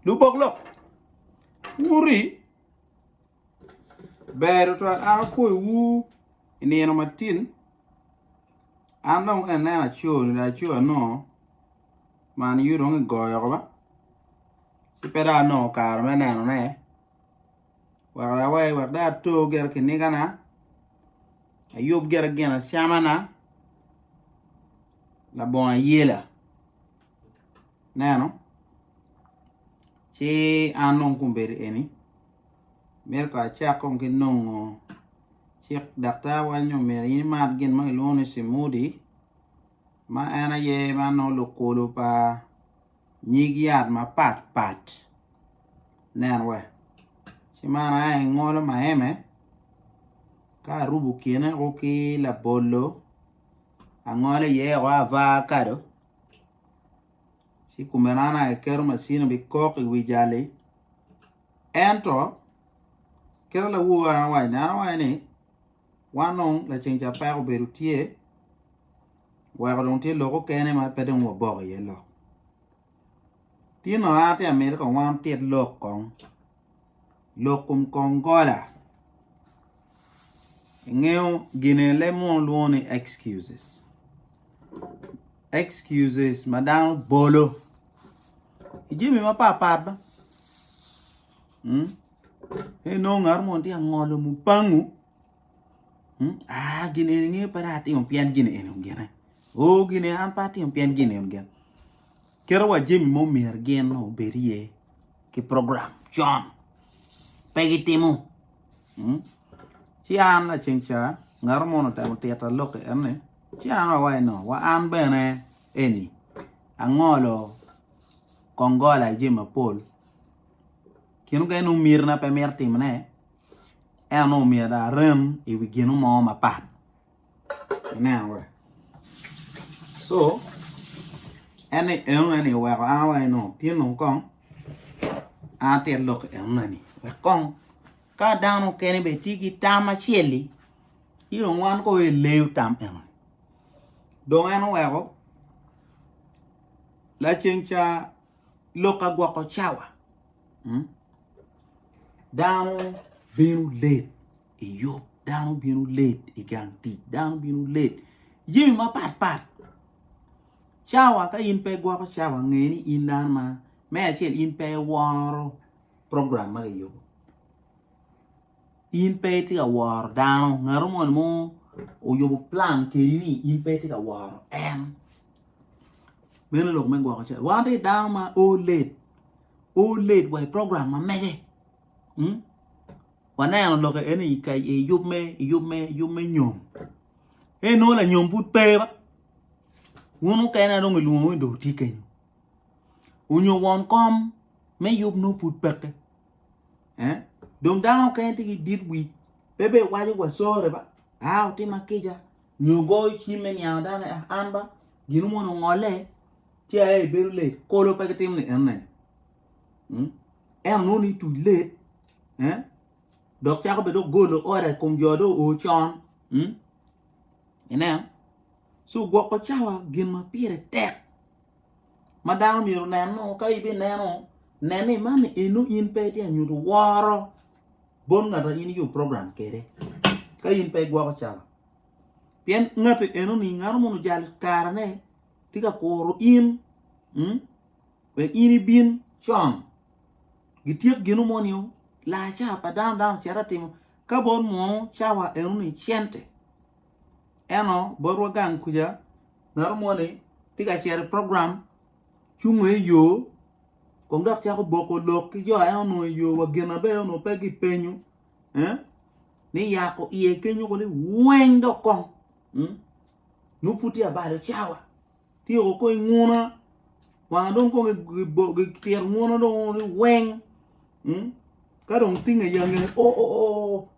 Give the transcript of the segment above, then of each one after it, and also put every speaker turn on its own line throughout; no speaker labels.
Lubok lok wuri ber twat an apwoyowu i nino matin an dong ka ineno aco ni dong aco anongo man you dong kigoyo oko ba ci pe dong anongo kare me nenone. Wek awer, wek dong ato gire kinigana, ayub gire ginacamana, labongo ayela. Ineno? Ci an dong kun bedo eni, myero kong acak kong ki nongo cik daktarwa nyo myero in imat gin ma kilwongo ni cimudi ma en aye ma nongo lukulu pa Nyig yat mapat pat nen we ci man aye angolo maeme ka arubo kine o ki labolo angolo iye o avakado ci kome nono aye aketo macini bi kok i wi jali ento kit ma lawono awaci ni Wan dong laceng ca peko obedo tye, weko dong tye lok okene ma pe dong wabok iye lok. Tinno an atye ka miti kong wan wutit lok kong, lok kom kongola. Ingeyo gine leb muno lwongo ni excuses, excuses ma dano bolo i jami mapatpat. pe inongo ngat mo tye ka ngolo mubangu aa gin eni pe dong atimo pien gin eni gene oo gin eni an pe atimo pien gin eni gene kite wa jami ma myero gin obed iye ki program con pe gitimo ci an laceng ca ngat mo ni otemo tita lok ki en ni ci an awaco ni wa an bene eni angolo kongola jami mapol Gin mukene nongo myero na pe mito timone ento nongo myero dong arem i wi gin mo mapat ineno wa so en ni enone ni oweko an awaco ni tye nongo kong an atito lok enona ni wek kong ka dano mukene bene tye ki tam acel-li ci dong wan kong aye eleyo tam enoni dong en oweko laceng ca lok agwoko cawa, hmm? dano bino late i yub, dano bino late i gang tic, dano bino late jami mapat pat. Cawa ka in pe igwoko cawa nge ni in dano ma me acel in pe iworo program ma kiyubo. In pe itye ka woro dano, ngat moni mo oyubo plan kedi ni in pe itye ka woro en. Meno lok me gwoko cal. Wan watye dano ma o late, o late wa i program ma mege. Hmm? Waneno lok eni i ka- i yub me i yub me i yub me nyom. En nongo lanyom pud pe ba. Wun mukene dong ilwongo ni dong wutye kenyo. Onyo won kom me yub nongo pud peke. eh dong dano mukene tye ki dit wic pe be waco wa sorry ba a otima kica nyo goyo cim me niango dano ni an ba gin mo ni ongole ci aye ibedo late kolo pe gitimo ni ene ento nongo ni ituc late eh dok cako bene dong golo order i kom jo dong oo con ineno so gwoko cawa gin ma pire tek. ma dano myero oneno ka ibineno nen ni man eno in pe itye ka nyuto woro bot ngat ma in iyubo program kwede ka in pe igwoko cawa pien ngati enoni ngano moni ojalo karene tye ka kuro in wek in ibin con gityek gino moni laa cawa pa dano dano ocito atimo ka bot munu cawa enoni cente. eno botwa gang kuca medo moni tye ka cito i program ci ongo i yo kong dok cako boko lok ki jo en onongo i yo wa gin ma bene onongo pe kipenyo ni yako iye kenyo kong ni weng dok kong nongo pud tye abalo cawa tye o kong i nguna wanga dong kong kitito nguna dong onongo ni weng ka dong tinge ya ngeye oo.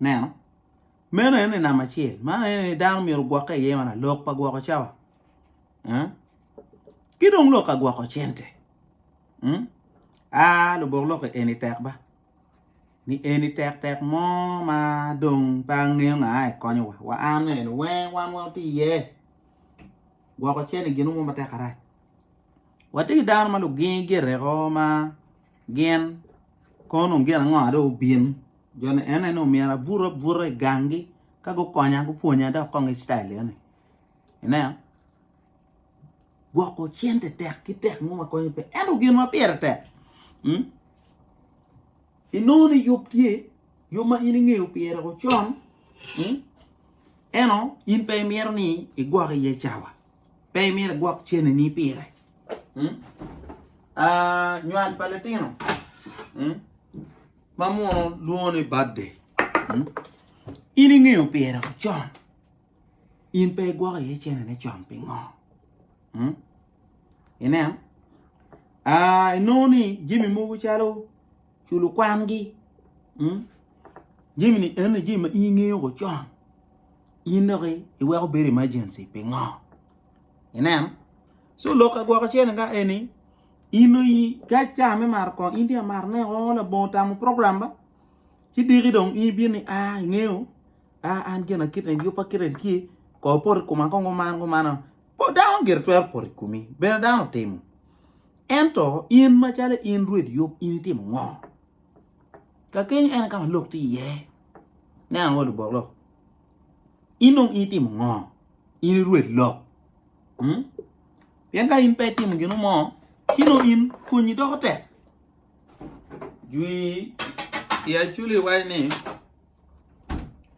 Neno, meno aye ni namba acel, man aye ni dano myero ogwokke iye mana lok pa gwoko cawa, ki dong lok ka gwoko cente. Aa, lubok lok eni tek ba, ni eni tek tek mo ma dong pe angeyo nga aye konyowa. Wa an ni eni wer wan wa wati iye, gwoko cente gin mo matek arac. Wati ki dano ma lugingi gire ko ma. Gin, Kono gin ango ma dong obin? Jo ni ene ni omyero abut abuta i gangi ka gukonya gupwonya dok kong ki citayil eni. Ineno? Gwoko cente tek ki tek mo ma konyo pe. Ento gin ma pire tek, mm? inongo ni yub tye, yub ma in ingeyo pire ocon, mm? eno in pe imito ni igwok iye cawa. Pe imito igwok cennini pire. Nywal pa litino ma muno lwongo ni birthday. In ingeyo pire ocon. In pe igwoko iye cennene con pingo? Ineno? Inongo ni jami mogo calo culo kwangi jami ni eni jami ma in ingeyo ko con in dok iweko bedo emergency pingo ineno ci lok agwoke acel ni ka eni in dong ka ca me mato kongo in dong imaro ne o labongo otamo program ba ci diki dong in ibino ni a ingeyo a an gina kit eni yubba kit eni tye kor poto i koma kong guman gumana dano gire twero poto i komi bene dano otimo Ento in macalo in Rwed yub in itimo ngo? Ka kenyo en kama lok tye iye. Nen ango lubok lok. In dong in itimo ngo? In i Rwed lok. Hmm? Pien ka in pe itimo gino mo, kino in konyi doko tek. Jwi i aculi wac ni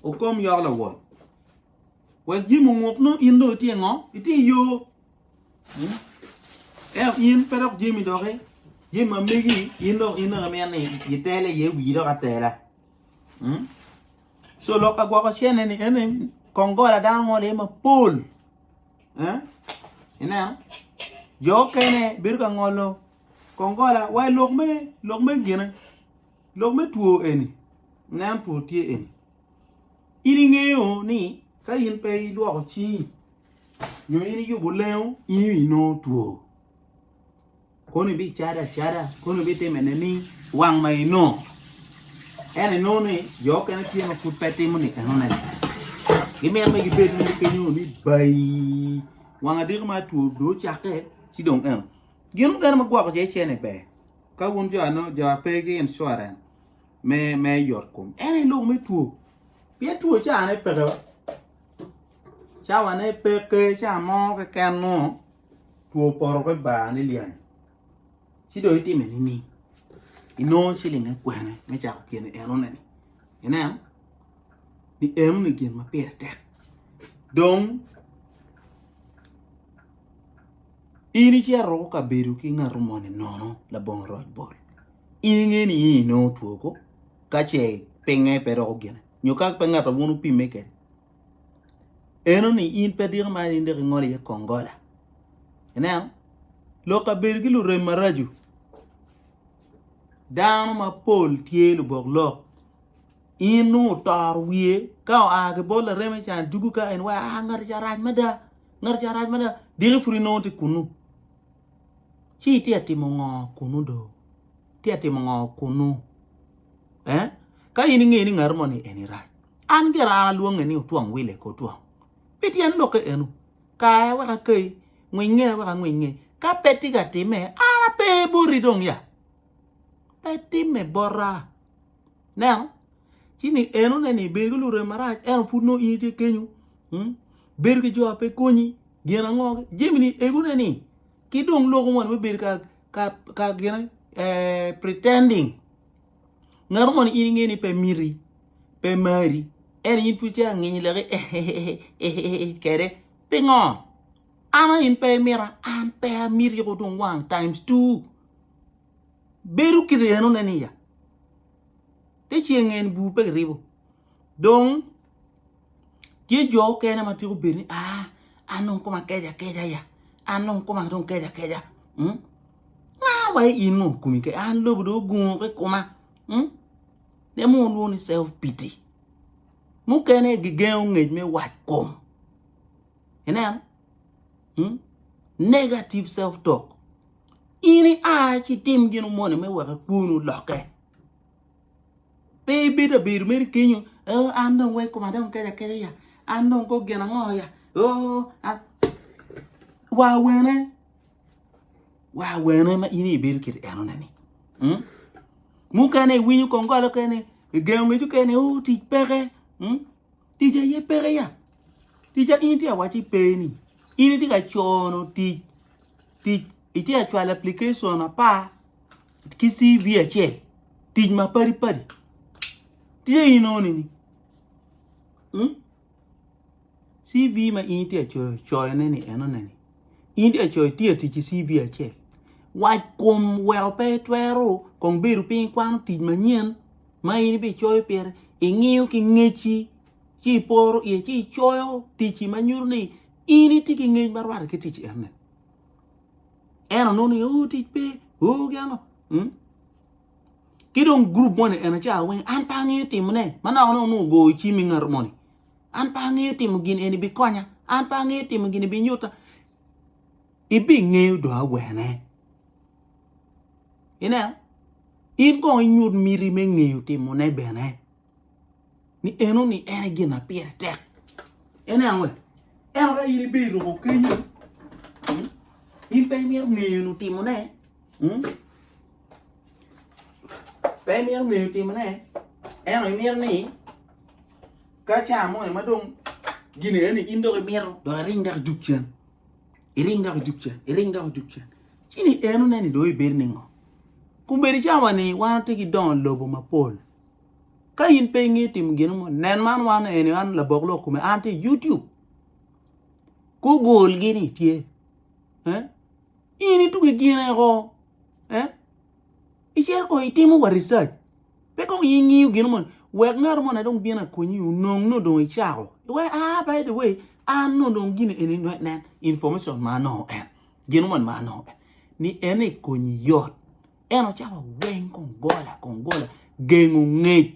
okom yok lawol. Wek jimo nguk no in do itye ngo? Itye yo. Ento in pe dok jami doki jami ma megi in dong in dong imito ni itele iye wii dok atela so lok ka gwoko cene ni ene kong gola dano ngolo iye mapol ineno jo okene bedo ka ngolo kong gola wa i lok me lok me gine lok me two eni ineno two tye eni in ingeyo ni ka in pe ilwoko cingi nyo in iyubo lengo in inongo two kono ibicado acada kono ibitime nining wang ma inongo en inongo ni jo okene tye ma pud pe timo ni enone gimito ni gibed ni gipenyo ni bayi wang adiki ma two do ocakke ci dong eno gin mukene ma gwoko ce cene ber ka wun jo ano jo ape ki insurance me me yot kom en ilok me two pien two cane peke wa Cawane peke ca mo keken mo two poto ki bar ni lyeny ci dong itime nining inongo cilinge kwene me cako gin enoni ineno ni enoni gin ma pire tek dong in icito iruko kabedo ki ngat moni nono labongo roc bol in inge ni in inongo two ko kace pinge pe doko gine nyo ka pe ngat ma bino pimme kwede. eno ni in pe diko ma in dok ingolo iye kong gola ineno lok kabedo ki lurem maraco dano mapol tye lubok lok in nongo otoro wiye ka oa ki bot lareme ca dwogo ka en wa a ngati ca rac mada ngati ca rac mada diki pud inongo tye kunu ci itye ka timo ngo kunu do itye ka timo ngo kunu. eh? Ka in ingeyo ni ngat mo ni eni rac, an gire an alwonge ni otwong wile ki otwong. Pi tyen lokke enu, kaye wek akei, ngwinge wek angwiny ngeye. Ka pe tye ka timme, an ape boti dong ya. Pe timme bota. Neno, ci ni eno ne ni ibedo ki lurem marac, eno pud nongo in itye kenyo. Hmm? Bedo ki jo ape konyi, gin ango? Jemi ni egone ni, ki dong loko moni me bedo ka ka gin pretending ngato moni in inge ni pe miti pe mari ento in pud icito anginyo leki eheheheh kede pingo an aye in pe imita an pe amiti yako tung wang times two bedo ki reno ne ni ya te ceng en bur pe kiribo. Dong tye jo okene ma tika obed ni aa an dong koma keco akeca ya an dong koma dong keco akeca nga wa aye in ngo komi keco an lobo dong ogungo ki koma en mogo lwongo ni self pity mukene aye gigengo ngec me wat kom ineno negative self talk in i a ci itim gino moni me wek kwoni olokke. Pe ibedo abedo mere kenyo oh an dong weko koma dong keco akeca ya, an dong kong gin ango ya oh an wa wene, wa wene ma in aye ibedo kiti enone ni mm mukene iwinyo kong golo kene ni igengo ngeco kene ni oh tic peke mm tic aye peke ya, tic ma in itye ka waci pe ni in itye ka cono tic, tic itye ka cwalo application apar. ki CV acel tic ma padi padi tye inongo ni hmm? CV ma in tye coyo coyone ni enone ni in tye coyo tye tic i CV acel wac kom weko pe itwero kong bedo piny kwano tic manyen ma in ibicoyo pire ingiyo ki ngeci ci iporo iye ci icoyo ticci ma nyuto ni in itye ki ngec ma rwatte ki tic enone en onongo ni oh tic pe oh ki ano hmm? ki dong grup moni en aca weng an pe angeyo timone manok ne onongo ogoyo cim i ngat moni an pe angeyo timo gin eni bikonya an pe angeyo timo gini binyuta ibingeyo do awene ineo in kong inyut miti me ngeyo timone bene ni eno ni en e gin na pire tek en en we eno ka in ibe iruko kenyo hmm? in pe imyero ngeyo nu timone hmm? pe imyero ngeyo timone eno imyero ni ka caa mo ma dong gini eni in dok imyero do iring dok ijuk cen iring dok ijuk cen iring dok ijuk cen cini eno neni do ibed ni ngo kumedi cawani wan ti ki dongo lobo mapol Ka in pe inge timo gino mo, nen man wan eni an labok lok kome an tye YouTube. Google gini tye. Eh? In itugi gine ko. Eh? Icel ko itimo wa research. Pe kong ingiyo gino mo. Wek ngaro mo na dong bino akonyi unong no dong icako. We ah by the way an no dong gini eni nen information ma no en. Gino mo ma no en. Ni en ikonyi yot. En ocako aweng kong gola kong gola gengo ngec.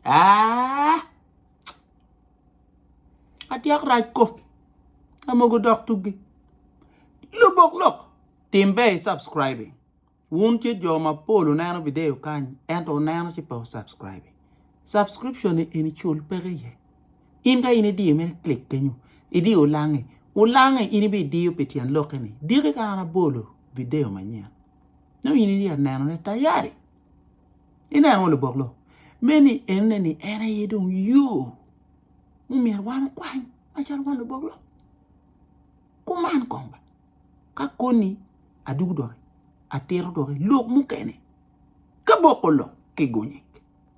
Ah! Atyek rac ko. Amogo dok tugi. Lubok lok. Tim ber i subscribing. Wun tye jo mapol oneno video kany ento oneno ci pe subscribing. Subscription ni eni cul peke iye. In ka in idiyo mene klik kenyo, idiyo ulange. Ulange in ibidiyo pi tyen lokke ni, diki ka an abolo video manyen. Nongo in iye aneno ne tayari. Ineno ngo lubok lo? Meni enne ni en aye dong yo mumyero wan okwany macalo wan lubok lo. Kuman kong ba. Ka koni adugu doki, atito doki lok mukene ka boko lo ki gonyek.